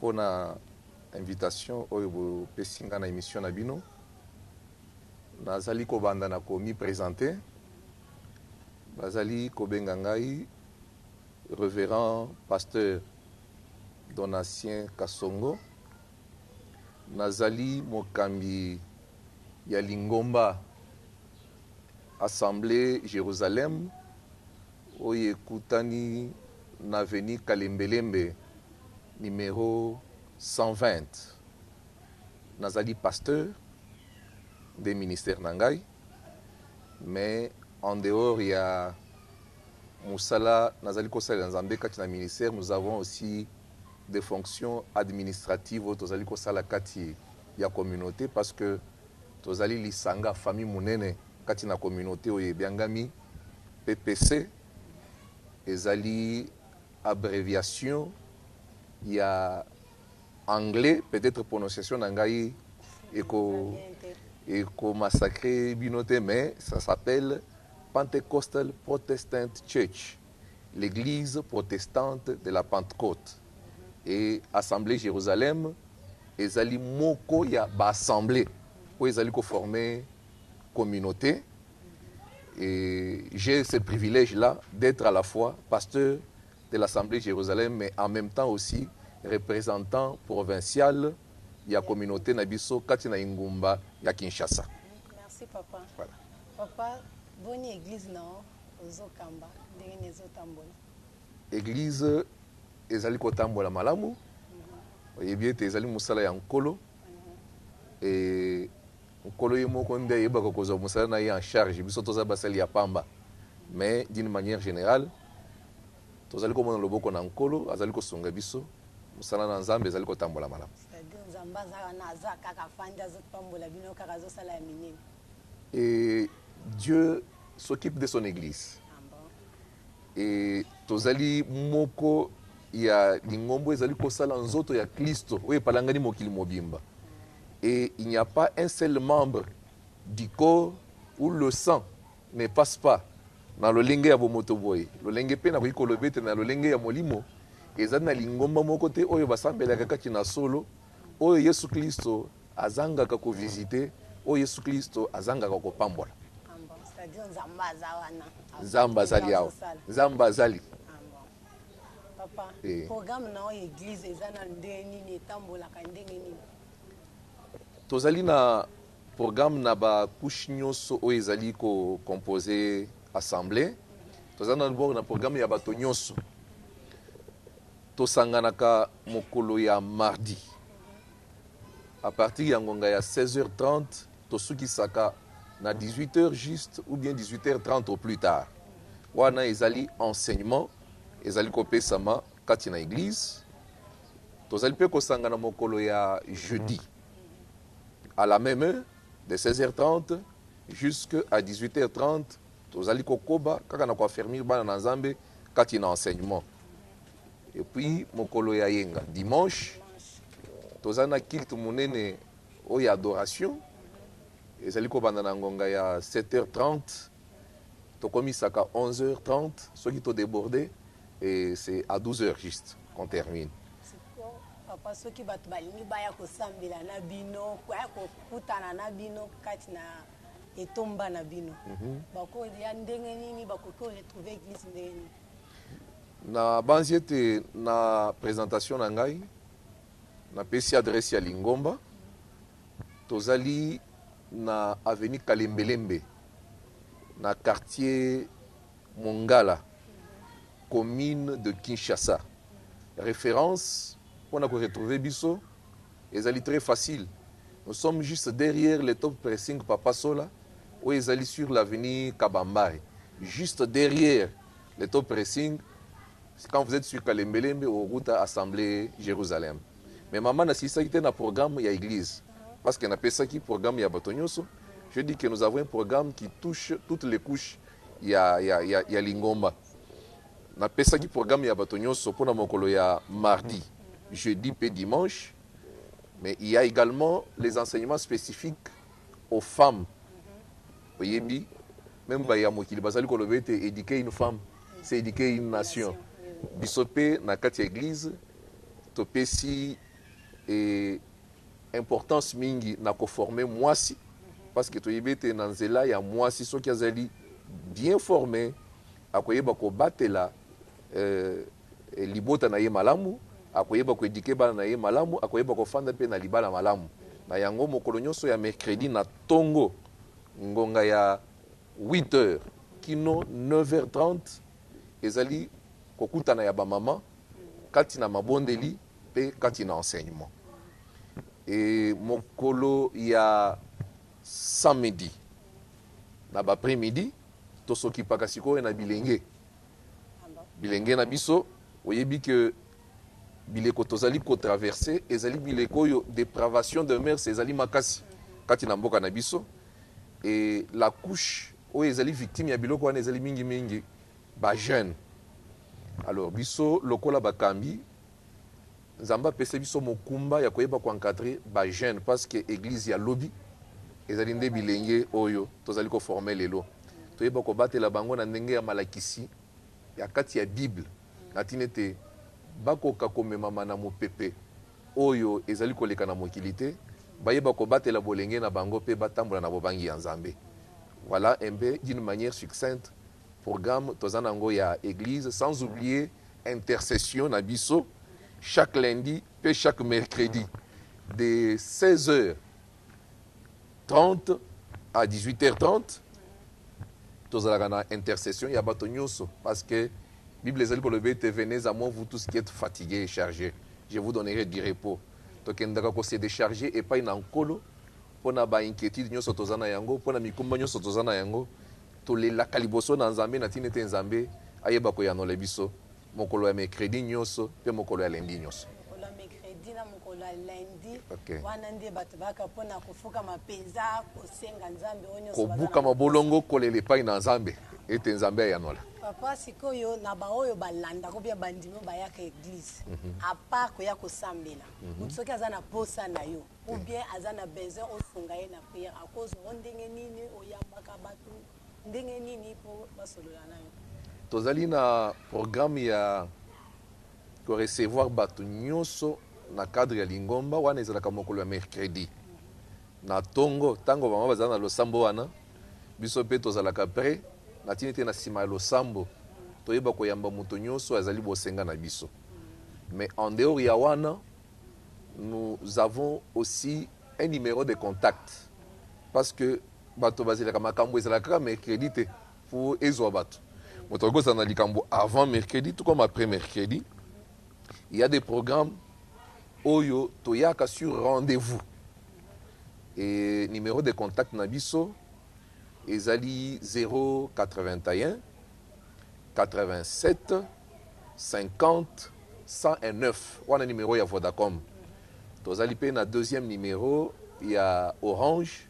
pona invitation oyo bo pesi nga na emission na bino. Nazali ko banda na ko mi presenter. Bazali ko benga ngai Reverend Pasteur Donatien Kasongo. Nazali mokambi ya lingomba Assemblee Jerusalem. oyo ekutani na avenue Kalembelembe numero 120. Nazali pasteur, nde ministère na ngai, mais en dehors ya mosala nazali kosalela Nzambe kati na ministère, nous avons aussi des fonctions administratives oyo tozali kosala kati ya communaute parce que tozali lisanga, famille, monene kati na communaute oyo ebiangami PPC ezali abreviation ya anglais, peut etre prononciation na ngai eko eko massacre bino te mais ça s'appelle Pentecostal Protestant Church, l'Eglise protestante de la Pentecote. Et Assemblée Jérusalem ezali moko ya ba assemblee oyo ezali ko former communaute. Et j'ai ce privilège là d'être à la fois pasteur de l'Assemblée Jérusalem mais en même temps aussi représentant provincial ya communauté na biso kati na engumba ya Kinshasa. Merci papa. Voilà. Papa, boni église na ozo kamba ndenge ni ezo tambola? Église ezali kotambola malamu. Mhm. Oyebi ete ezali mosala ya Nkolo. Mhm. Et Nkolo ye moko nde ayebaka kozwa mosala na ye en charge, biso toza basali ya pamba mais d'une maniere generale tozali komona loboko na Nkolo, azali kosunga biso, mosala na Nzambe ezali kotambola malamu. C'est à dire Nzambe aza wana, aza kaka afandi azo pambola bino kaka, azo sala ya minene. Et Dieu s'occupe de son eglise et tozali moko ya lingombo ezali kosala nzoto ya Klisto oyo epalangani mokili mobimba. et il n'y a pas un seul membre du corps où le sang ne passe pas na lolenge ya bomoto boye, lolenge mpe nakoki koloba ete na lolenge ya molimo, ezali na lingomba moko te oyo basambelaka kati na solo, oyo Yesu Klisto azangaka ko visiter, oyo Yesu Klisto azangaka kopambola. Nzambe azali awa. Nzambe azali. Papa, programme na yo ya eglise eza na nde nini? Etambolaka ndenge nini? Tozali na programme na ba couches nionso oyo ezali ko composer assemblee. Toza d'abord na programme ya bato nionso. Tosanganaka mokolo ya mardi. A partir ya ngonga ya 16h30, tosukisaka na 18 heures juste ou bien 18h30 au plus tard. Wana ezali enseignement ezali kopesama kati na eglise. Tozali mpe kosangana mokolo ya jeudi à la même heure de 16h30 jusqu'à 18h30 tozali kokoba kaka na koaffermir bana na Nzambe kati na enseignement. Et puis mokolo ya yenga dimanche toza na culte munene oyo ya adoration ezali kobanda na ngonga ya 7h30 tokomisaka 11h30 soki to deborde et c'est à 12h juste qu'on termine. papa soki bato balingi baya kosambela na bino baya kokutana na bino kati na etomba na bino mm -hmm. bakoya ndenge nini bakoki koretrouve eglise ndenge nini Na banzi ete na presentation na ngai na pesi adresse ya lingomba. Tozali na avenue Kalembelembe na quartier Mongala, commune de Kinshasa. Reference pona ko retrouver biso Ezali très facile nous sommes juste derrière le top pressing papa sola oyo ezali sur l'avenue kabambare juste derrière le top pressing quand vous etes sur kalembelembe au route assemblée Jerusalem mais maman nasilisaki te na programme ya eglise parce que napesaki programme ya bato nyonso je dis que nous avons un programme qui touche toutes les couches ya, ya, ya, ya lingomba Napesaki programme ya bato nyonso mpo na mokolo ya mardi, jeudi mpe dimanche, mais il ya egalement les enseignements specifiques aux femmes, oyebi meme baye ya mokili bazali koloba ete eduquer une femme c'est eduquer une nation, biso mpe na kati ya eglise topesi eh, importance mingi na ko former muasi parce que toyebi ete na nzela ya muasi soki azali bien former akoyeba kobatela eh, libota na ye malamu akoyeba ko eduquer bana na ye malamu akoyeba kofanda mpe na libala malamu na yango mokolo nyonso ya mercredi na tongo ngonga ya 8 heures kino 9 heures 30 Ezali kokutana ya ba maman kati na mabondeli pe kati na enseignement. E mokolo ya samedi na ba après midi to s'occupaka sikoyo na bilenge. Bilenge na biso oyebi que bileko tozali ko traverser ezali bileko oyo depravation de mœurs ezali makasi kati na mboka na biso. Et la couche oyo ezali victime ya biloko wana ezali mingi mingi ba jeunes. Alors biso lokola bakambi, Nzambe apesa biso mokumba ya koyeba ko encadrer ba jeunes parce que eglise ya lobi ezali nde bilenge oyo tozali ko former lelo. Toyeba kobatela bango na ndenge ya malakisi ya kati ya bible na tina ete bakoka komemama na mopepe. oyo ezali koleka na mokili te, bayeba kobatela bolenge na bango mpe batambola na bobangi ya Nzambe. Voilà un peu d'une manière succincte programme toza na yango ya eglise sans oublier intercession na biso chaque lundi mpe chaque mercredi de 16 heures 30 à 18 heures 30 tozalaka na intercession ya bato nyoso parce que bible ezali koloba ete venez à moi vous tous qui êtes fatigués et chargés je vous donnerai du repos tokendaka ko se decharger epai na nkolo mpo na ba inquiétude nyoso toza na yango mpo na mikumba nyoso toza na yango tolelaka liboso na nzambe na ntina ete nzambe ayeba koyanola biso Mokolo ya mercredi nioso pe mokolo ya lundi nioso. Mokolo ya mercredi na mokolo ya lundi. Ok. Wana nde bato bayaka po na kofukama mpenza, kosenga Nzambe oyo nyonso baza na mposa. Kobukama bolongo, kolela epai na Nzambe, ete Nzambe ayanolà. Papa, sikoyo na baoyo balandaka ou bien bandimi oyo bayaka eglise, à part koya kosambela, moto soki aza na posa na yo ou bien aza na besoin osunga ye na prière, akozwa yo ndenge nini? Oyambaka bato? Ndenge nini mpo basolola na yo? Tozali na programme ya ko recevoir batu nyoso na cadre ya lingomba, wana ezalaka mokolo ya mercredi na tongo, tango vraiment bazali na losambo wana biso mpe tozalaka pret, na tina ete na sima ya losambo toyeba koyamba moto nyoso azali bosenga na biso. Mais en dehors ya wana nous avons aussi un numero de contact parce que Bato bazelaka makambu ezalaka kaka mercredi te po ezua bato. Moto akoki kozala na likambu avant mercredi tout comme après mercredi. Il ya des programmes oyo toyaka sur rendez-vous et numero de contact na biso ezali 08187501009 wana numero ya Vodacom. Tozali pe na deuxième numero ya Orange.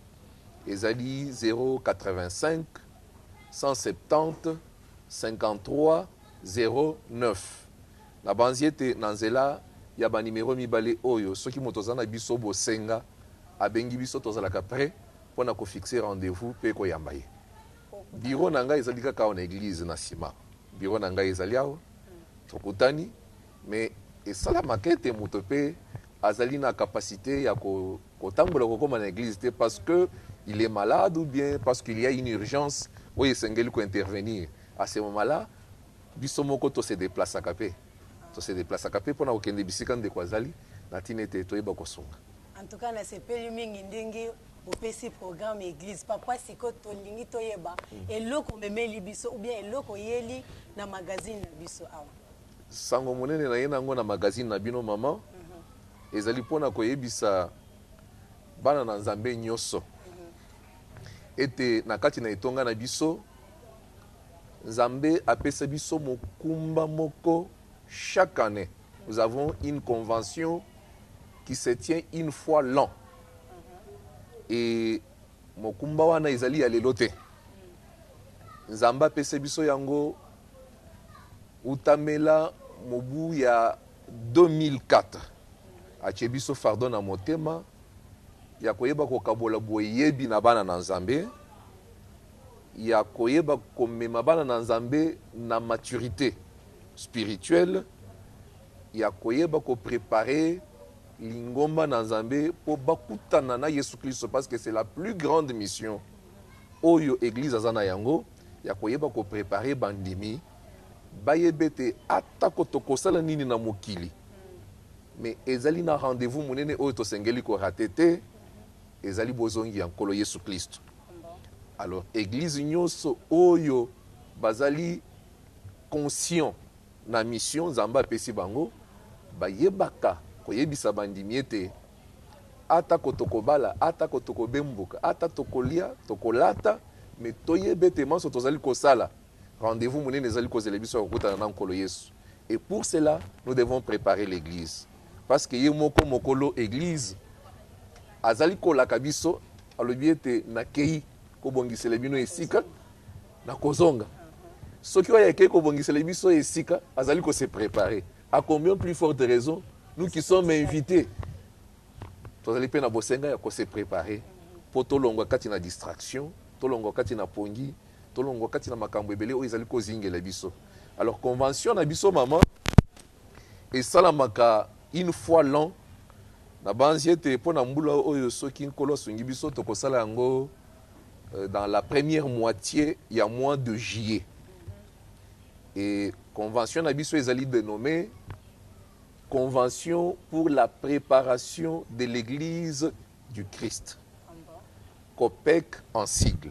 Ezali 08517053009. Nabanzi ete na nzela ya ba numero mibale oyo, soki moto aza na biso bosenga, abengi biso, tozalaka pret mpo na ko fixer rendez-vous mpe koyamba ye. Bureau na ngai ezali kaka awa na eglise na sima. Bureau na ngai ezali awa, tokutani. Mais esalamaka ete moto mpe azali na capacite ya ko Kotambola kokoma na eglise te parce que il est malade ou bien parce qu'il ya une urgence oyo esengeli ko intervenir à ce moment là biso moko to se deplacaka pe to se deplacaka pe pona kokende bisika ndeko azali na tina ete toyeba kosunga. En tout cas na sepeli mingi ndenge opesi programme ya eglise papa sikoyo tolingi toyeba eloko omemeli biso ou bien eloko oyeli na magazine na biso awa. Sango monene naye na yango na magazine na bino maman ezali pona koyebisa bana na nzambe nyoso ete na kati na etonga na biso nzambe apesa biso mokumba moko chaque annee nous avons une convention qui se tient une fois l'an et mokumba wana ezali ya lelo te nzambe apesa biso yango Wutamela mobu ya 2004, atie biso fardeau na motema ya koyeba kokabola boyebi na bana na Nzambe, ya koyeba komema bana na Nzambe na maturite spirituelle, ya koyeba ko preparer lingomba na Nzambe po bakutana na Yesu Klisto parce que c'est la plus grande mission oyo eglise aza na yango, ya koyeba ko preparer bandimi. Bayeba ete atako tokosala nini na mokili, mais ezali na rendez-vous monene oyo tosengeli ko rater te, ezali bozongi ya Nkolo Yesu Klisto. Alors eglise nyoso oyo bazali conscient na mission Nzambe apesi bango, bayebaka koyebisa bandimi ete atako tokobala, atako tokobembuka, ata tokolia, tokolata, mais toyeba ete manso tozali kosala, Rendez-vous munene ezali kozela biso ya kokutana na Nkolo Yesu et pour cela nous devons preparer l'eglise parce que ye moko mokolo eglise azali kolaka biso alobi ete nakeyi kobongisela bino esika na kozonga soki oyo akeyi kobongisela biso esika azali ko se preparer à combien plus forte raison nous qui sommes invités tozali mpe na bosenga ya ko se preparer mpo tolongwa kati na distraction tolongwa kati na pongi Tolongwa kati na makambo ebele oyo ezali kozingela biso. Alors convention na biso maman esalamaka une fois l'an. Nabanzi ete mpo na mbula oyo soki Nkolo asungi biso tokosala yango euh, dans la première moitié ya mois de juillet. Et convention na biso ezali dénommée Convention pour la préparation de l'Église du Christ. COPEC en sigle.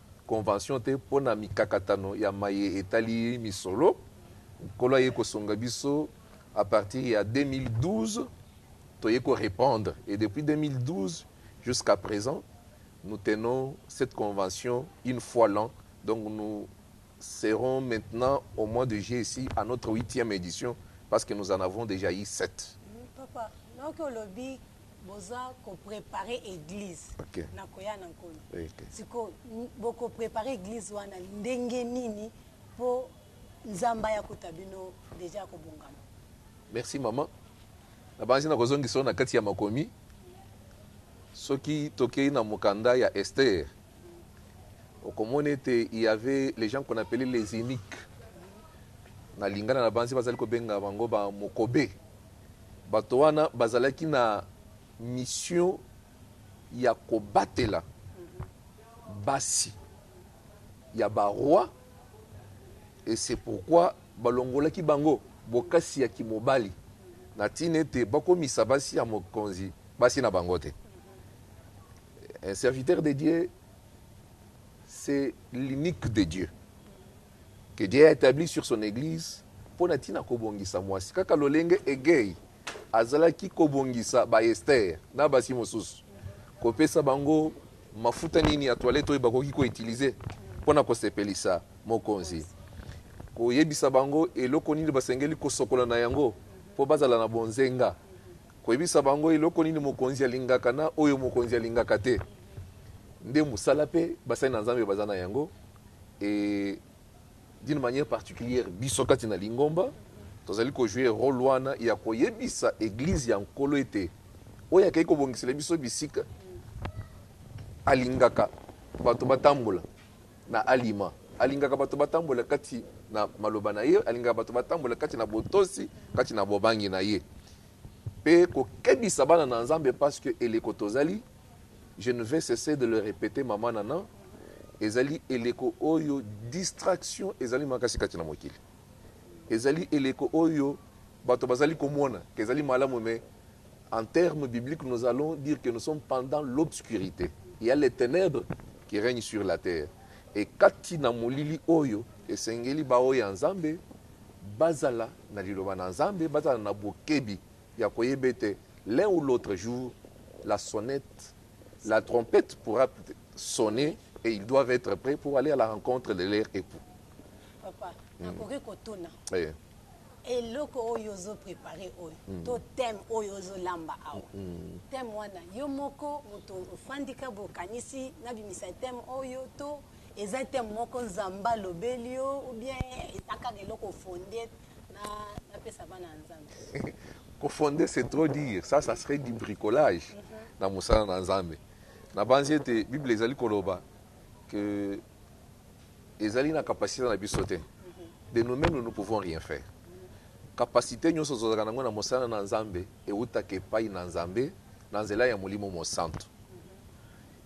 convention te mpo na mikakatano ya maye etali misolo, Nkolo aye kosunga biso à partir ya 2012 toye ko repondre et depuis 2012 jusqu'à present nous tenons cette convention une fois l'an donc nous serons maintenant au mois de juillet ici à notre huitième edition parce que nous en avons dejà eu sept. Papa, donc olobi Boza ko prepare eglise na koya na nkolo sikoyo boko prepare eglise wana ndenge nini po nzambe aya kota bino deja ya kobongama. Merci maman nabanzi nakozongisa yo na kati ya makomi soki tokei na mokanda ya Esther. okomona ete il y avait les gens qu'on appelait les iniques na lingala na banzi bazali kobenga bango ba mokobe bato wana bazalaki na mission ya kobatela basi ya ba roi et c'est pourquoi balongolaki bango bokasi ya kimobali na tina ete bakomisa basi ya mokonzi basi na bango te Un serviteur de Dieu c'est l'unique de Dieu que Dieu a etabli sur son eglise mpo na ntina kobongisa mwasi kaka lolenge egei azalaki kobongisa ba Esther na basi mosusu kopesa bango mafuta nini ya toilette oyo bakoki koutilize mpo na kosepelisa mokonzi koyebisa bango eloko nini basengeli kosokola na yango mpo bazala na bonzenga Koyebisa bango eloko nini mokonzi alingaka na oyo mokonzi alingaka te nde mosala pe basali na Nzambe baza na yango et d'une manière particulière biso kati na lingomba tozali ko jouer role wana ya koyebisa eglise ya Nkolo ete oyo akeyi kobongisela biso bisika alingaka bato batambola na alima. Alingaka bato batambola kati na maloba na ye, alingaka bato batambola kati na botosi, kati na bobangi na ye. Pe kokebisa bana na Nzambe parce que eleko tozali, je ne vais cesser de le repeter maman Nana, ezali eleko oyo distraction ezali makasi kati na mokili. Ezali eleko oyo bato bazali komona que ezali malamu mais En terme biblique nous allons dire que nous sommes pendant l'obscurite il ya les tenèbres qui règne sur la terre et kati na molili oyo esengeli ba oyo ya Nzambe bazala na liloba na Nzambe bazala na bokebi ya koyeba ete l'un ou l'autre jour la sonnette la trompette pourra sonner et ils doivent etre près pour aller à la rencontre de leur epoux. Papa, nakoki kotuna. Mm. Eloko oyo ozo prepare oyo to thème oyo ozo lamba awa thème wana yo moko mutu ofandi ka bo kanisi na bimisa thème oyo to eza thème moko nzambe alobeli yo ou bien eza kaka eloko o fonde na na pesa bana ya nzambe? Ko fonde c'est trop dire ça ça serait du bricolage na mosala na nzambe na banzi ete bible ezali koloba que ezali na capacite na biso te de nous meme nous ne pouvons rien faire capacite nyonso tozalaka nango na mosala na nzambe ewutaka epai na nzambe na nzela ya molimo mosantu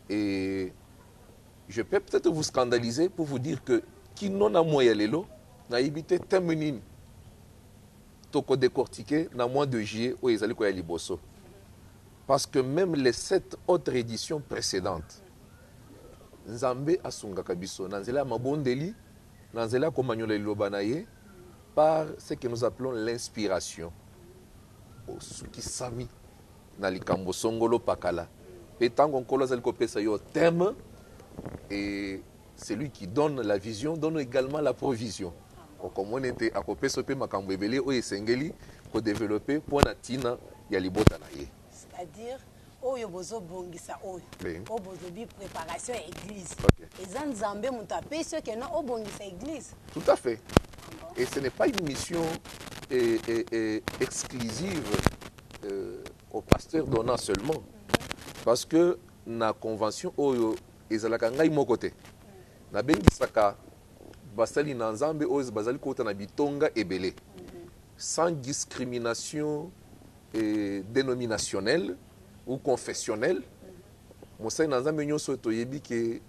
et je peux peut-être vous scandaliser pour vous dire que kino na moya lelo nayebi te teme nini tokodecortike na mois de juillet oyo ezali koya liboso parce que même les sept autres éditions précédentes Nzambe asungaka biso na nzela ya mabondeli, na nzela ya komanyola Liloba na Ye, par ce que nous appelons l'inspiration. Osukisami na likambo songolo pakala, mpe ntango Nkolo azali kopesa yo thème, et celui qui donne la vision donne egalement la provision. Okomona ete akopesa yo mpe makambo ebele oyo esengeli ko developper mpo na ntina ya libota na Ye. oyo bozo bongisa oyo oyo bozolobi preparation ya eglise eza nzambe moto apesi yo keno obongisa eglise tout à fait et ce n'est pas une mission et, et, et exclusive euh, au pasteur donna seulement mm-hmm. parce que na convention oyo ezalaka ngai moko te mm. nabengisaka basali na nzambe oyo bazali kota na bitonga ebele mm-hmm. sans discrimination et denominationelle ou confessionnelle mosali na nzambe nionso toyebi ke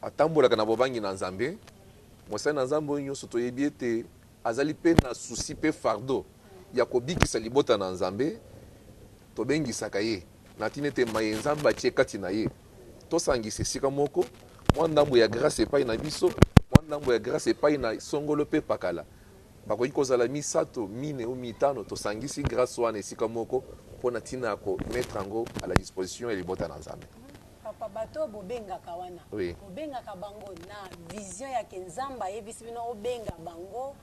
atambolaka na bobangi na nzambe mosali na nzambe oyo nionso toyebi ete azali pe na souci pe fardo ya kobikisa libota na nzambe tobengisaka ye na tina ete maye nzambe atie kati na ye tosangisa esika moko mwa ndambo ya grace epai na biso mwa ndambo ya grace epai na songolo pe pakala Bakoki kozala misato, mine ou mitano. Tosangisi grace wana esika moko mpo na ntina ya ko mettre yango à la disposition ya libota na Nzambe. Papa bato oyo bobengaka wana Oui. bobengaka bango na vision ya ke nzambe ayebisi bino obenga bango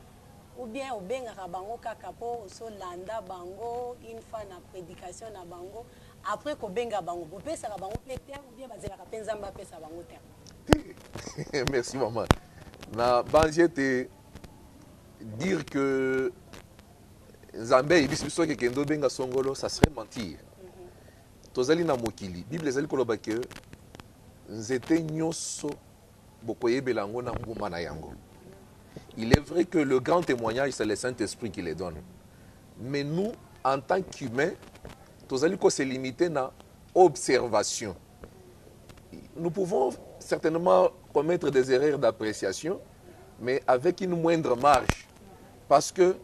ou bien obengaka bango kaka po ozo landa bango une fois na predication na bango après kobenga bango bopesaka bango pe terme ou bien bazelaka pe nzambe apesa bango terme Te. Merci maman. Na banzi ete dire que nzambe ayebisi biso ake kende obenga songolo ça serait mentir mhm. tozali na mokili bible ezali koloba ke nzete nyonso bokoyebela yango na mbuma na yango il est vrai que le grand témoignage c'est le saint esprit qui le donne mais nous en tant qu'humain tozali ko se limiter na observation nous pouvons certainement commettre des erreurs d'appréciation, mais avec une moindre marge. Parce que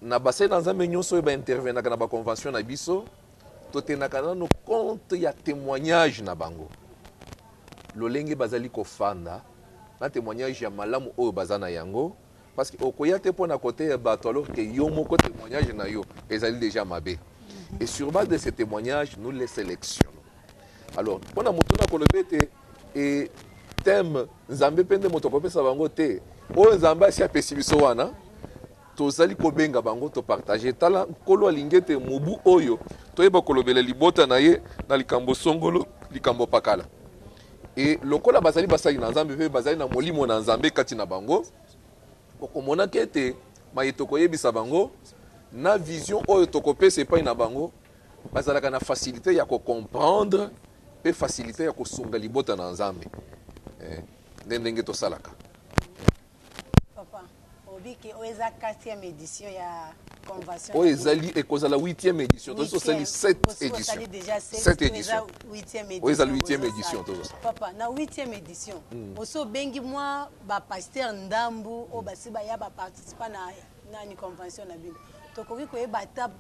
na basai na nzambe nyonso oyo baintervenaka na baconvention na biso totendaka nano compte ya témoignage na bango lolenge bazali kofanda na témoignage ya malamu oyo baza na yango Parce que okoya te pona koteya batu alors que yo moko temoignage na yo ezali dejà mabe. Et sur base de ce témoignage, nous les sélectionnons. Alors, pona motuna kolobe te et thème Nzambe pende moto kopesa bango te. Oyo Nzambe asi apesi biso wana tozali kobenga bango to partager tala nkolo alingi te mobu oyo toyeba kolobela libota na ye na likambo songolo likambo pakala Et lokola bazali basali na Nzambe mpe bazali na Molimo na Nzambe kati na bango, okomonaka ete maye tokoyebisa bango na vision oyo tokopesa epai na bango, bazalaka na facilite ya ko comprendre mpe facilite ya kosunga libota na Nzambe. Eh, nde ndenge tosalaka. Oyo ezali ekozala huitième édition tosi tosali sept édition sept édition oyo ezali huitième édition tozosala papa na huitième édition hmm. osi obengi mwa bapasteur ndambu oyo basi baya baparticipa na nani convention na bino tokoki koyeba ata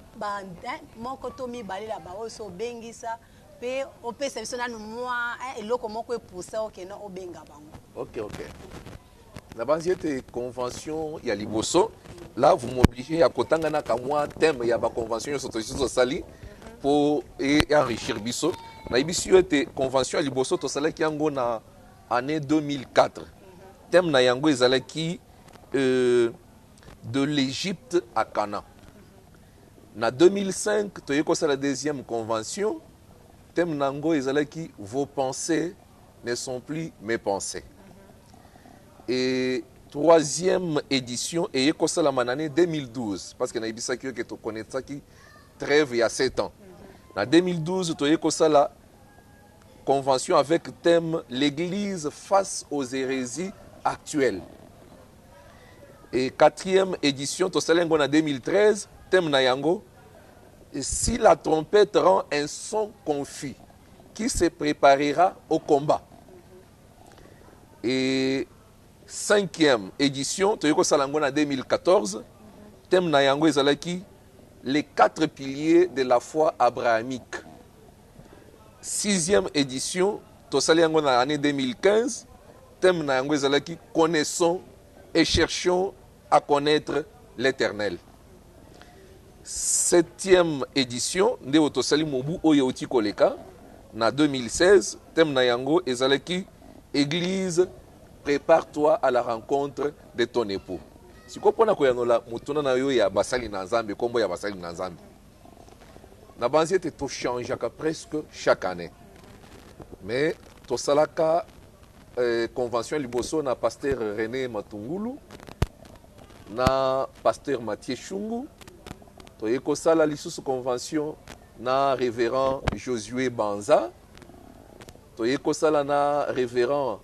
eh, moko to mibale na baoyo osi obengisa Pe opesa biso nanu mua un eloko moko e poussa yo que non obenga bango. Ok ok. Nabanzi ete convention ya liboso là vous m'obligez ya kotanga na ka mua thème ya ba convention nionso tosi tosali po e enrichir biso. Nayebisi yo ete convention ya liboso tosalaki yango na annee 2004. Thème na yango ezalaki euh, De l'Egypte à Canaan. Na 2005, toyei kosala deuxième convention, thème na yango ezalaki Vos pensees ne sont plus mes pensees. Et troisième edition eye kosalama na annee 2012, parce que nayebisaki yo que to connaissaki treve ya sept ans. Na 2012, toyei kosala. Convention avec thème L'Eglise face aux heresies actuelles et quatrième edition tosali yango na 2013 thème na yango si la trompette rend un son confus qui se préparera au combat et cinquième édition toyei kosala yango na 2014 thème na yango ezalaki les quatre piliers de la foi abrahamique Sixième edition, tosali yango na annee 2015. Thème na yango ezalaki connaissons et cherchons à connaitre l'Eternel. Septième edition nde oyo tosali mobu oyo euti koleka na 2016. Thème na yango ezalaki Église prépare-toi à la rencontre de ton époux. Sikoyo mpo na koyanola motuna na yo ya basali na Nzambe, nkombo ya basali na Nzambe. Nabanzi ete to changeaka presque chaque annee. Mais tosalaka eh, convention liboso na pasteur Rene Matungulu na pasteur Mathieu Shungu. Toye kosala lisusu convention na révérend Josué Banza. Toye kosala na révérend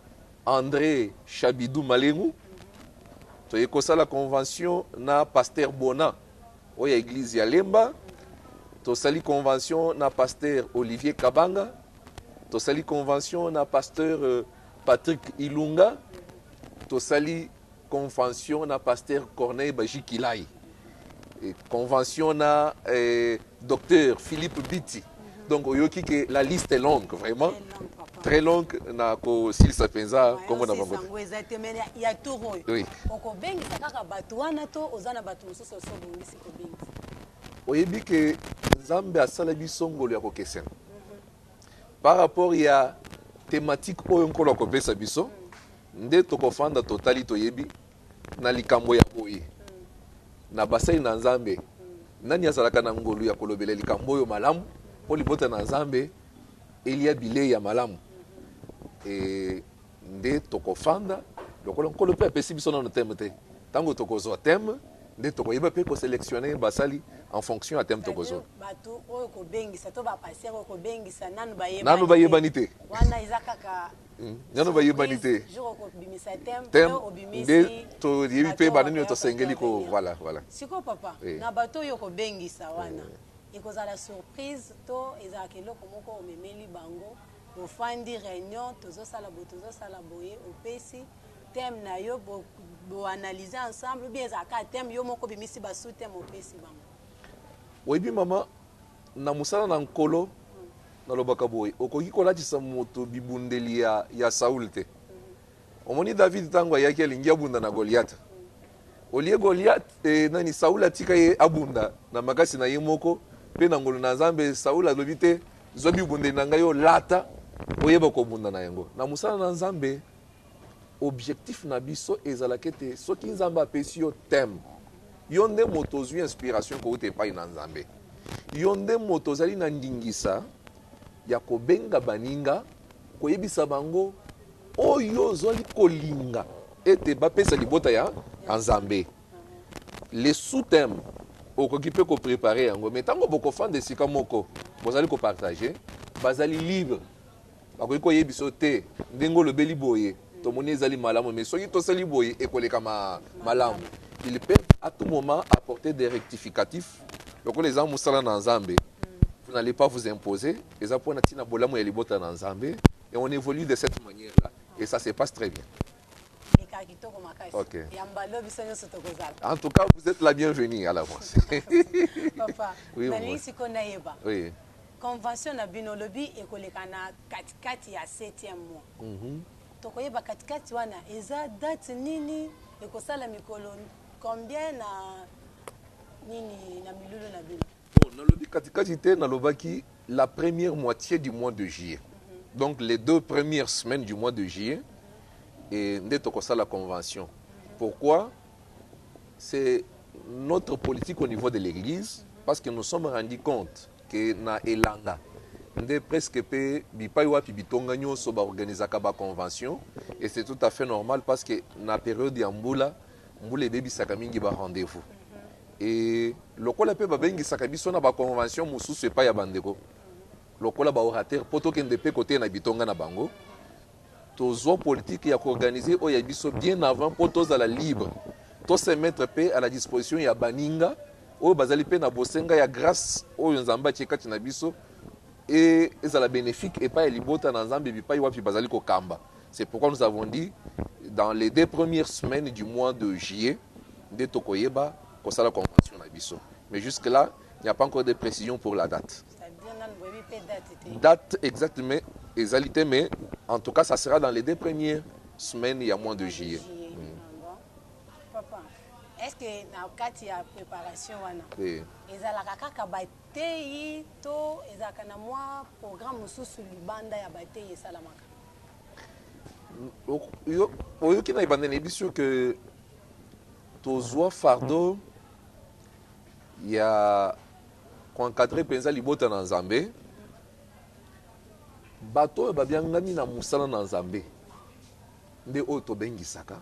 André Chabidou Malengu. Toye kosala convention na pasteur Bona Oyo ya eglise ya lemba. Tosali convention na pasteur Olivier Kabanga. Tosali convention na pasteur Patrick Ilunga. Tosali convention na pasteur Corneille Bajikilai. Convention na eh, docteur Philippe Biti. donc oyoki ke la liste est longue vraiment très longue na kosilisa mpenza nkombo na bango te okobengisa kaka bato wana to oza na bato mosusu osi obongisi kobengisa oyebi ke nzambe asala biso ngolu ya kokesena mhm. par rapport ya thématique oyo nkolo akopesa biso nde tokofanda totali toyebi Na likambo ya boye, na basali na Nzambe, nani azalaka na ngolu ya kolobela likambo oyo malamu mpo libota na Nzambe elia bilei ya malamu? Ee, nde tokofanda lokola Nkolo mpe apesi biso nano thème te. Tango tokozua thème, nde tokoyeba mpe ko selectionner basali en fonction ya thème tokozua. C'est-à-dire batu oyo kobengisa to ba pasteurs oyo kobengisa nanu bayebani te. Nanu bayebani te. Wana eza kaka nano bayebani te nde toyebi mpe banani oyo tosengeli ko voilà voilà sikoyo papa eh. na bato oyo kobengisa eh. wana ekozala surprise to ezalaka eloko moko omemeli bango ofandi réunion tozosala boye tozosala boye opesi thème na yo boanalyse bo ensemble ou bien ezalaka thème yo moko obimisi basous thème opesi bango oyebi mama Na mosala na Nkolo, nalobaka boye, okoki kolatisa moto bibundeli ya, ya Saul te. Omoni, David, ntango ayaki, alingi abunda na Goliath. Olie Goliath, eh, nani, Saul atika ye abunda na makasi na ye moko, mpe na ngolu na Nzambe, Saul alobi te, zwa bibundeli na ngai olata, oyeba kobunda na yango. Na mosala na Nzambe, Objectif na biso ezalaka ete soki Nzambe apesi yo thème, yo nde moto ozwi inspiration kouta epai na Nzambe. Yo nde moto ozali na ndingisa ya kobenga baninga, koyebisa bango oyo ozali kolinga ete bapesa libota ya Nzambe. Le sous-thème okoki mpe koprepare yango, me ntango bokofanda esika moko bozali kopartage, bazali libre Bakoki koyebisa yo te ndenge olobeli boye tomoni ezali malamu mais soki tosali boye ekoleka ma malamu ils peuvent a tout moment apporter des rectificatifs lokola eza musala na nzambe vous n'allez pas vous imposer eza pona tina bolamu ya libota na nzambe et on évolue de cette manière là et ça se passe très bien Mika kitoko makasi. Ok. Yamba lobi biso nyonso tokozala. en tout cas vous êtes la bienvenue à l'avance Papa, Oui, nalingi maman. sikoyo nayeba. oui Convention na bino olobi ekoleka na kati kati ya septième mois. Tokoyeba kati kati wana eza date nini? Ekosala mikolo combien na nini na milulu na bino? Bon, nalobi kati kati te, nalobaki la première moitie du mois de juillet. Donc les deux premières semaines du mois de juillet nde tokosala convention. Pourquoi? C'est notre politique au niveau de l'eglise parce que nous sommes rendu compte. que na elanga nde presque pe bipayi wapi bitonga nionso ba organisaka ba convention et c'est tout à fait normal parce que na periode ya mbula mbula ebebisaka mingi ba rendez vous et lokola pe babengisaka biso na ba convention mosusu epai ya bandeko lokola ba orateur po tokende pe koteya na bitonga na bango Tozua politique ya k'organiser oyo ya biso bien avant mpo tozala libre, to se mettre mpe à la disposition ya baninga oyo bazali mpe na bosenga ya grace oyo Nzambe atie kati na biso et ezala benefique epai ya libota na Nzambe bipai wapi bazali kokamba. C'est pourquoi nous avons dit dans les deux premières semaines du mois de juillet nde tokoyeba kosala convention na biso. Mais jusque là, il n'y a pas encore de precision pour la date. Date exacte mais ezali te mais en tout cas ça sera dans les deux premières semaines ya mois de juillet. Est-ce que na kati ya préparation wana oui. ezalaka kaka bateyi to ezalaka na mwa programme mosusu libanda ya bateyi esalamaka oyoki na ebandeli yebisi yo ke tozwa fardeau ya Ko encadrer mpenza libota na Nzambe, Bato oyo babiangami na mosala na Nzambe nde oyo tobengisaka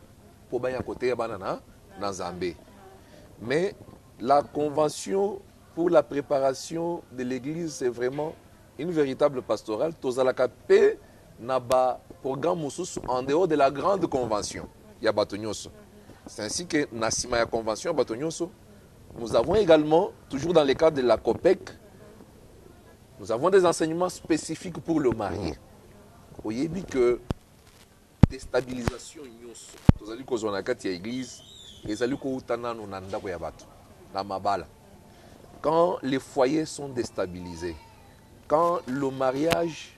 mpo baya koteya bana na na Nzambe. Mais la convention pour la preparation de l'eglise c'est vraiment une veritable pastorale, tozalaka mpe na ba programmes mosusu en dehors de la grande convention ya bato nionso. C'est ainsi que na sima ya convention ya bato nionso, Nous avons egalement, toujours dans le cadre de la COPEC, nous avons des enseignements specifiques pour le marie. Oyebi que destabilisation nyonso tozali kozwa na kati ya eglise ezali kouta nano na ndako ya bato na mabala quand les foyers sont déstabilisés quand le mariage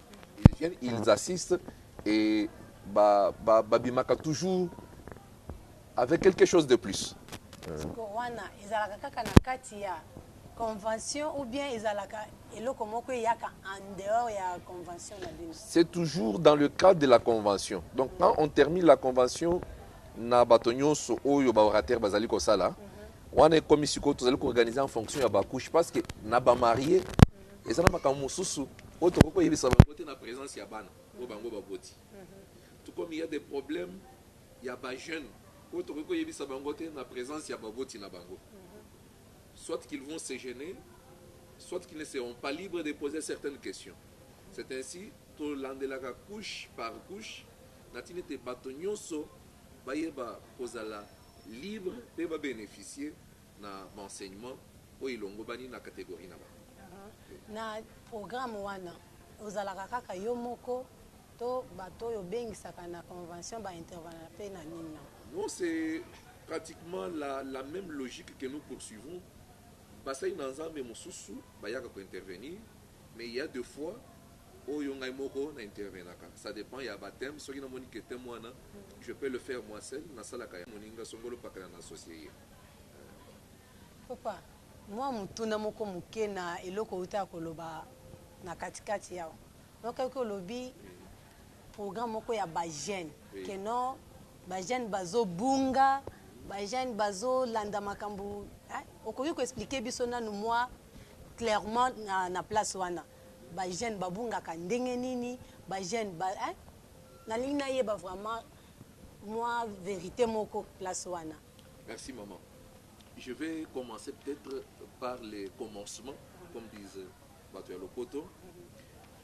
Ils viennent, ils assistent et ba ba babimaka toujours avec quelque chose de plus. Siko wana ezalaka kaka na kati ya convention ou bien ezalaka eloko moko eyaka en dehors ya convention na bino C'est toujours dans le cadre de la convention. Donc quand on termine la convention na bato nyonso oyo ba orateur bazali kosala wana ekomi sikoyo tozali koorganize en fonction ya bacouche parce que na bamarie Eza na makambo mosusu oyo tokoki koyebisa bango te na presence ya bana oyo bango baboti. Tout comme il ya des problemes ya ba jeunes oyo tokoki koyebisa bango te na presence ya baboti na bango. Soit qu'ils vont se gener, soit qu'ils ne seront pas libres de poser certaines questions. C'est ainsi tolandelaka couche par couche na tina ete bato nyonso bayeba kozala libre mpe ba beneficier na ba enseignements oyo elongobani na categorie na bango. Na programme wana, ozalaka kaka yo moko to bato oyo obengisaka na convention ba intervenaka mpe na nini? Na. Non, c'est pratiquement la la meme logique que nous poursuivons, basali na Nzambe mosusu bayaka ko intervenir, mais il ya de fois oyo ngai moko na intervenaka, ça depend ya ba thèmes, soki namoni que thème wana je peux le faire moi seul, nasalaka ya moninga Songolo Pakala na associer ye. Papa, mua motuna moko moke na eloko outaka koloba na kati kati awa. Yokaki olobi programme moko ya ba jeunes que non ba jeunes bazo bunga, ba jeunes bazo landa makambo hein, okoki ko expliquer biso nanu mua clairement na place wana ba jeunes ba bungaka ndenge nini? Ba jeunes ba hein? Nalingi nayeba vraiment mua verite moko place wana. Merci maman je vais commencer peut etre par le commencement comme disent batu ya lopoto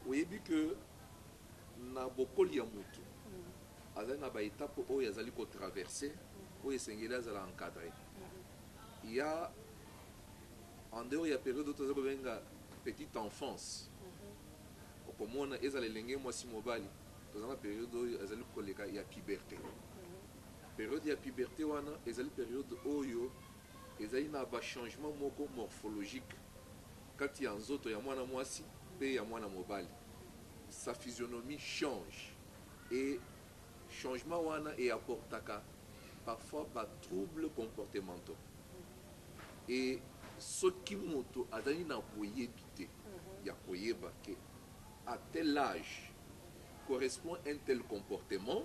oyebi que na bokoli ya mutu azali na ba etape oyo azali ko traverser oyo esengeli azala encadre ya en dehors ya periode oyo tozali kobenga petite enfance okomona ezala elenge mwasi mobali tozali na periode oyo azali koleka ya puberte Periode ya puberte wana ezali periode oyo ezali na ba changement moko morphologique kati ya nzoto ya mwana mwasi mpe ya mwana mobali, sa physionomie change et changement wana e apportaka parfois ba troubles comportementaux et soki moto azali na boyebi te ya koyeba que à tel age correspond un tel comportement,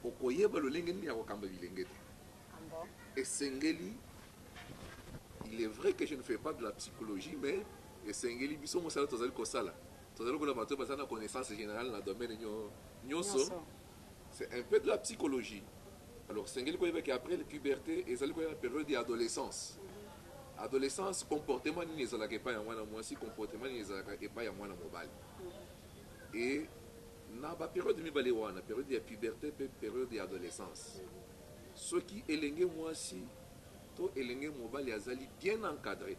Okoyeba lolenge nini ya kokamba bilenge te. Esengeli, il est vrai que je ne fais pas de la psychologie, mais esengeli biso mosala tozali kosala, tozali lokola bato oyo bazali na connaissance generale na domaine nionso, c'est un peu de la psychologie. Alors esengeli koyeba que après puberte ezali koya na periode ya adolescence. Adolescence comportement nini ezalaka epai ya mwana mwasi, comportement nini ezalaka epai ya mwana mobali et Na ba periode mibale wana, periode ya puberte mpe periode ya adolescence, soki elenge muasi to elenge mobali azali bien encadre,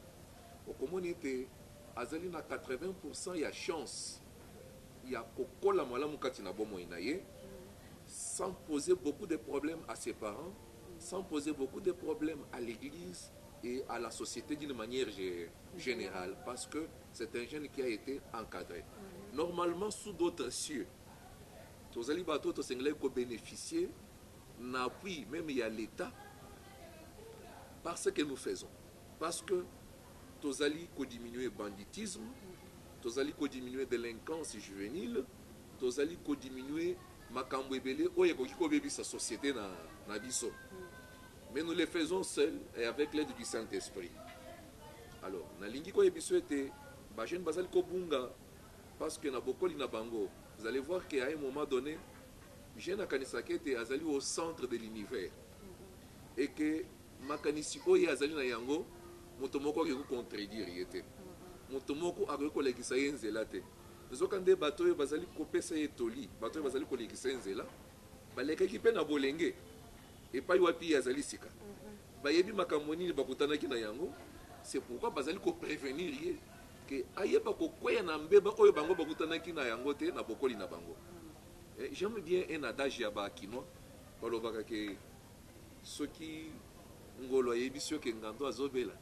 okomona ete azali na 80 pour cent ya chance ya kokola malamu kati na bomoi na ye, sans poser beaucoup de problèmes à ses parents, sans poser beaucoup de problèmes à l'eglise et à la societe d'une manière generale, parce que. C'est un jeune qui a ete encadre normalement sous d'autres cieux, tozali batu oyo tosengelaki ko beneficier na appui meme ya l'etat par ce que nous faisons parce que tozali ko diminuer banditisme, tozali ko diminuer delinquance juvenile, tozali ko diminuer makambu ebele oyo ekoki ko bebisa societe na biso mais nous le faisons seul et avec l'aide du Saint-Esprit. Alors nalingi ko yebiso ete ba jeunes bazali ko bunga parce que na bokoli na bango vous allez voir que à un moment donne jeune akanisaka ete azali au centre de l'univers et que makanisi oyo ye azali na yango moto moko akoki ko contredire ye te, moto moko akoki ko lakisa ye nzela te. Nzoka nde bato oyo bazali ko pesa ye toli, bato oyo bazali ko lekisa ye nzela ba lekaki pe na bolenge. Epai wapi ye azali sika? Bayebi makambo nini bakutanaki na yango? C'est pourquoi bazali ko prevenir ye que ayeba kokweya na mbeba oyo bango bakutanaki na yango te na bokoli na bango. J'aime bien un adage ya ba kinois, balobaka que soki ngolo ayebisi yo que ngando azo bela,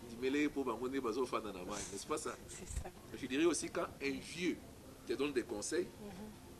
ndimela ye mpo bango nde bazo fanda na mayi, n'est-ce pas ça? Je dirais aussi quand un vieux te donne des conseils,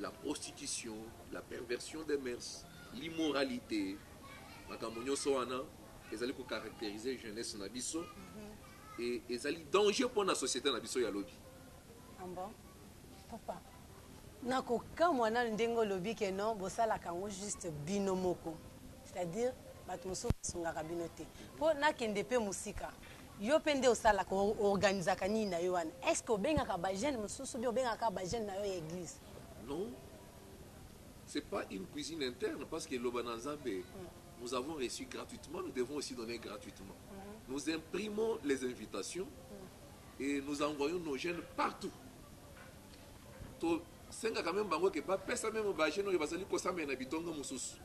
la prostitution, la perversion des mœurs, l'immoralite, makambo nionso wana ezali ko caracteriser jeunesse na biso et ezali danger mpo na societe na biso ya lobi. Ah bon? Papa, nakokamwa nanu ndenge olobi que non bosalaka yango juste bino moko, c'est-à-dire bato mosusu basungaka bino te mpo nakende mpe mosika. Yo pe nde osalaka o organisaka nini nayo wana est ce que obengaka ba jeunes mususu ou bien obengaka kaka ba jeunes nayo ya eglise? Non c'est pas une cuisine interne parce que loba na nzambe nous avons reçu gratuitement nous devons aussi donner gratuitement nous imprimons les invitations et nous envoyons nos jeunes partout to sengaka meme bango ke ba pesa meme ba jeunes oyo bazali ko sambela na bitonga mususu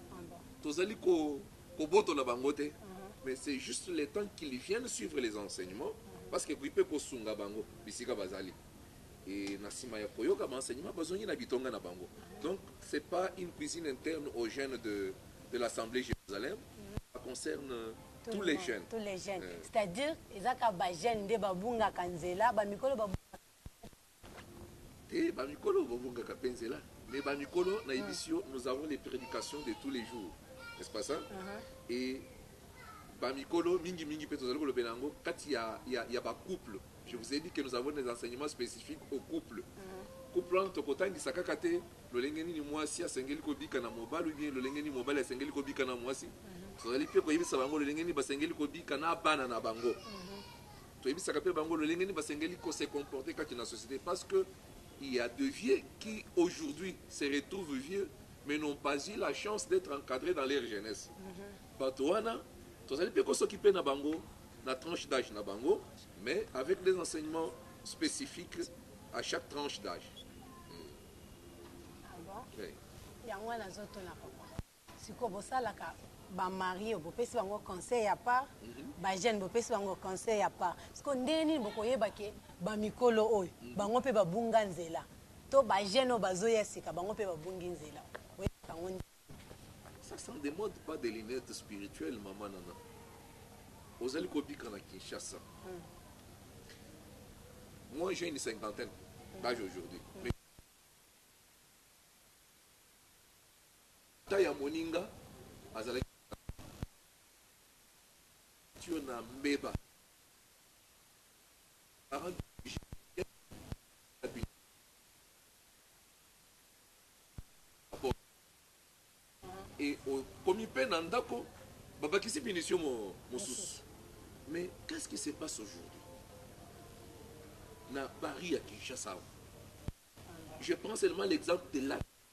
tozali ko kobotola bango te mais c'est juste le temps qu'ils viennent suivre les enseignements parce que ekoki pe kosunga bango bisika bazali et na sima ya koyoka ba enseignements bazongi na bitonga na bango donc c'est pas une cuisine interne aux jeunes de de l'Assemblée Jerusalem ça concerne tous les jeunes, c'est à dire eza kaka ba jeunes nde babungaka nzela ba mikolo babungaka. Te ba mikolo bo bungaka pe nzela mais ba mikolo na yebisi yo nous avons les predications de tous les jours n'est ce pas ça? et ba mikolo mingi mingi pe tozali kolobela yango kati ya ya ba couple je vous ai dit que nous avons des enseignements specifiques au couple couple wana toko tangisa kaka te lolenge nini muasi asengeli ko bika na mobali ou bien lolenge nini mobali asengeli ko bika na muasi tozali pe ko yebisa bango lolenge nini basengeli ko bika na bana na bango Toyebisaka mpe bango lolenge nini basengeli ko se comporter kati na societe parce que il ya de vieux qui aujourd'hui se retrouvent vieux mais n'ont pas eu la chance d'etre encadres dans leur jeunesse bato wana tozali mpe ko s'occuper na bango na tranche d'age na bango mais avec des enseignements specifiques à chaque tranche d'age. Yango wana nazotuna papa. Sikoyo bosalaka ba maries bopesi bango conseil ya part ba jeunes bopesi bango conseil ya part sikoyo ndenge nini bokoyeba ke ba mikolo oyo bango pe babunga nzela to ba jeunes oyo bazoya sika bango pe babungi nzela boyebaka yango ndenge nini? Ça s'en demande pas des lunettes spirituelles maman Nana ozali kobika na Kinshasa moi j'ai une cinquantaine d'age aujourd'hui mais Tata ya moninga azalaki kosakola Evanzile na mbeba. Ba parents de Brigitte bakendaki na biro ya Evanzile na Kabondo. Ekomi mpe na ndako, babakisi punition mosusu. Mais qu'est-ce qui se passe aujourd'hui na Paris ya Kinshasa awa? Je prends seulement l'exemple de la.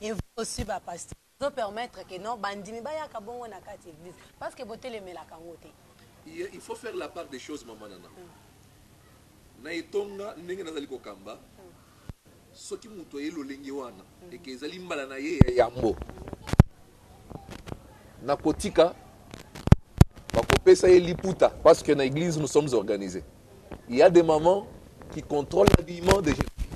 Et vous aussi ba pasteurs bozo permettre que non ba ndimi ba yaka bongo na kati ya eglise parce que bo telemelaka yango te. Yy il faut faire la part des choses maman nana na etonga ndenge nazali kokamba soki mutu aye lolenge wana et que ezali mbala na ye ya yambo na kotika bakopesa ye liputa parce que na eglise nous sommes organise. Il ya des mamans qui controle l'habillement des jeunes filles.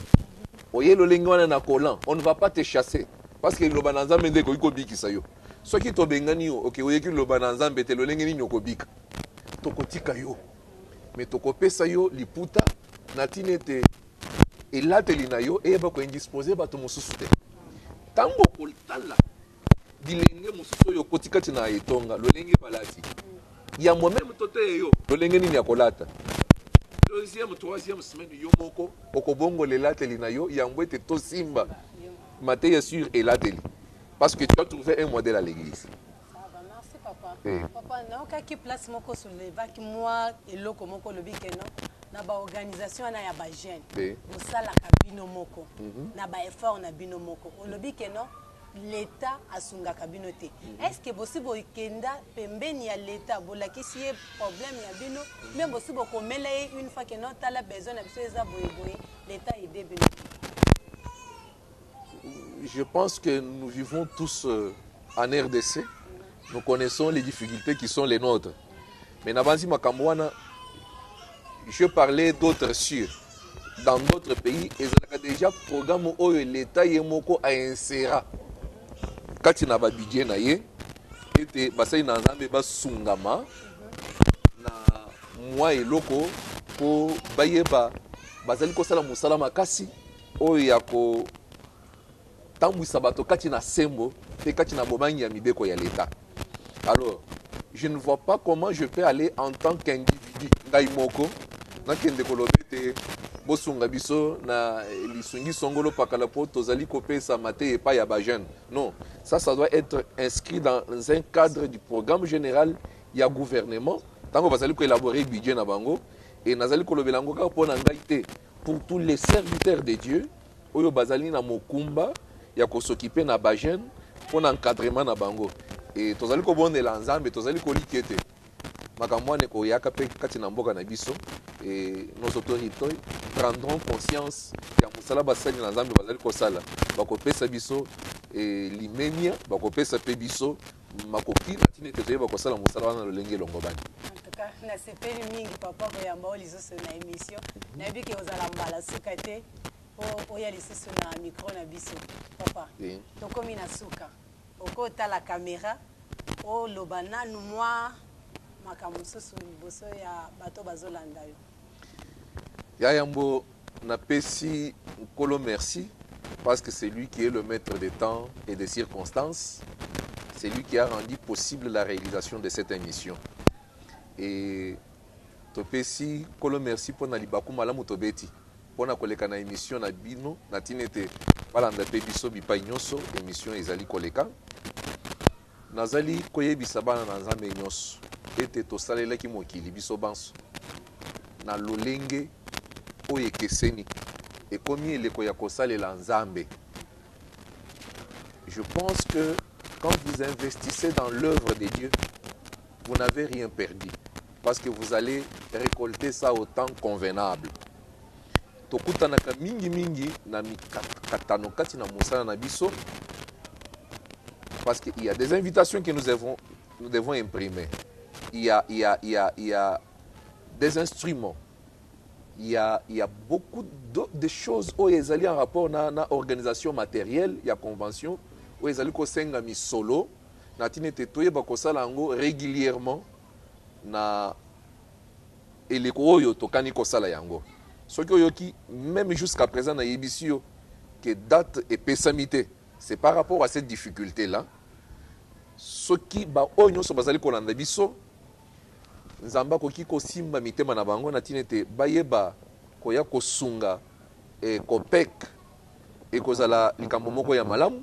Oye lolenge wana na collant, on ne va pas te chasser parce que liloba na Nzambe nde ekoki kobikisa yo. Soki tobengani yo oke oyeki liloba na Nzambe te lolenge nini okobika? Tokotika yo mais tokopesa yo liputa na tina ete elateli na yo eyeba ko indisposer bato mosusu te. Tango okotala bilenge mosusu oyo okoti kati na etonga lolenge balati ya moi meme to teye yo lolenge nini ya kolata deuxième troisième semaine yo moko okobongola elateli na yo yambo ete tosimba mateya sur elateli parce que tu as trouvé un modèle à l'église eh. papa naokaki place moko solevaki mwa eloko moko olobi keno na baorganisation wana ya bajeune bosalaka bino moko mhm. na baeffort na bino moko olobi keno l'etat asungaka bino te est ce que bosi bokenda pembeni ya l'etat bolakisi ye problème ya bino ou bien bosi bokomela ye une fois que non tala besoin na biso eza boye boye l'etat aide bino te je pense que nous vivons tous euh, en rdc nous connaissons les difficultés qui sont les nôtres Mais nabanzi makambo wana je parlais d'autres sur dans d'autres pays ezalaka déjà programme oyo l'État ye moko a insera kati na ba budget na ye ete basali na Nzambe basungama na mwa eloko mpo bayeba bazali kosala mosala makasi oyo ya ko Tambwisa bato kati na sembo mpe kati na bobangi ya mibeko ya Leta. Alors, je ne vois pas comment je peux aller en tant qu'individu, ngai moko, nakende koloba ete bosunga biso na lisungi songolo pakala mpo tozali kopesa mateya epai ya bajeune. Non, ça, ça doit être inscrit dans un cadre du programme général ya gouvernement ntango bazali koelaborer budget na bango et nazali kolobela yango kaka mpo na ngai te, pour tous les serviteurs de Dieu, oyo bazali na mokumba ya ko s'occuper na ba jeunes mpo na encadrement na bango et tozali kobondela Nzambe, tozali kolikya ete makambo wana ekoyaka mpe kati na mboka na biso et nos autorites prendront conscience ya mosala basali na Nzambe bazali kosala, bakopesa biso limemya, bakopesa mpe biso makoki na ntina ete toyeba kosala mosala wana na lolenge elongobani. Nasepeli mingi papa koyamba yo lisusu na emission, nayebi ke ozala mbala suka te. po oya lisusu na micro na biso papa tokomi na suka okotala camera oloba nanu mwa makambo mosusu liboso ya bato bazolanda yo ya yambo na pesi nkolo merci parce que c'est lui qui est le maître des temps et des circonstances c'est lui qui a rendu possible la réalisation de cette émission et Topesi Nkolo mersi mpo na libaku malamu tobeti mpo na koleka na emission na bino na tina ete balanda mpe biso bipai nionso emission ezali koleka. Nazali koyebisa bana na Nzambe nionso ete tosalelaki mokili biso banso na lolenge oyo ekeseni. Ekomi eleko ya kosalela Nzambe. Je pense que quand vous investissez dans l'oeuvre de Dieu, Vous n'avez rien perdu parce que vous allez recolter ça au temps convenable. Tokutanaka mingi mingi na mikakatano kati na mosala na biso parce qu'il y a des invitations que nous devons, nous devons imprimer. Il y a, il y a, il y a, il y a des instruments il y a, il y a beaucoup de, de choses oyo ezali en rapport na, na organisation matérielle ya convention oyo ezali kosenga misolo na ntina ete toyeba kosala yango regulierement na eleko oyo tokani kosala yango. Soki oyoki meme jusqu'à present na yebisi yo que date epesami te c'est par rapport à cette difficulte là. Soki ba oyo nionso bazali kolanda biso Nzambe akoki kosimba mitema na bango na ntina ete bayeba koya kosunga eh, COPEC ekozala likambo moko ya malamu.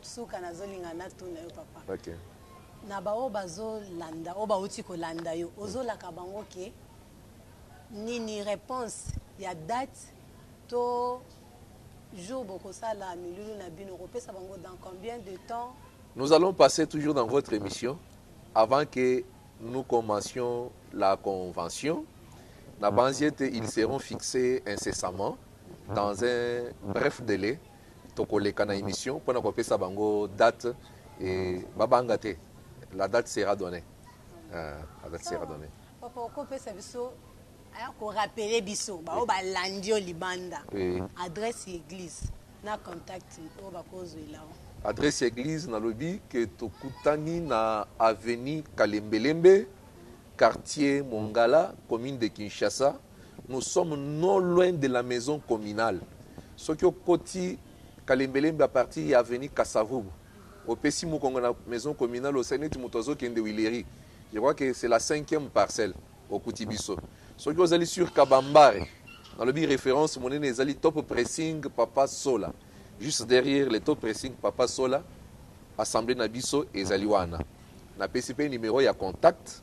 Suka nazo linga na tuna yo papa na ba oyo bazo landa oyo bawuti ko landa yo ozo laka bango ke nini reponse ya date to jour boko sala milulu na bino oko pesa bango dans combien de temps? Nous allons passer toujours dans votre emission avant que nous commencions la convention na banzi ete ils seront fixes incessamment dans un bref delai Toko leka na emission pona ko pesa bango date et ba banga te la date sera donnee eeh la date sera donnee. Papa oko pesa biso hein ko rappeler biso ba oyo ba landi yo libanda adresse ya eglise na contact oyo ba ko zwela yo. Adresse ya eglise na lobi que to kutani na avenue kalembelembe quartier mongala commune de Kinshasa. Nous sommes non loin de la maison communale soki okoti kalembelembe à partir ya avenue kasavubu opesi mukongo na maison communale osali neti mutu azo kende huilerie je crois que c'est la cinquième parcelle okuti biso soki ozali sur kabambare nalobi reference munene ezali top pressing papa sola juste derrière le top pressing papa sola assemblée na biso ezali wana napesi pe numero ya contact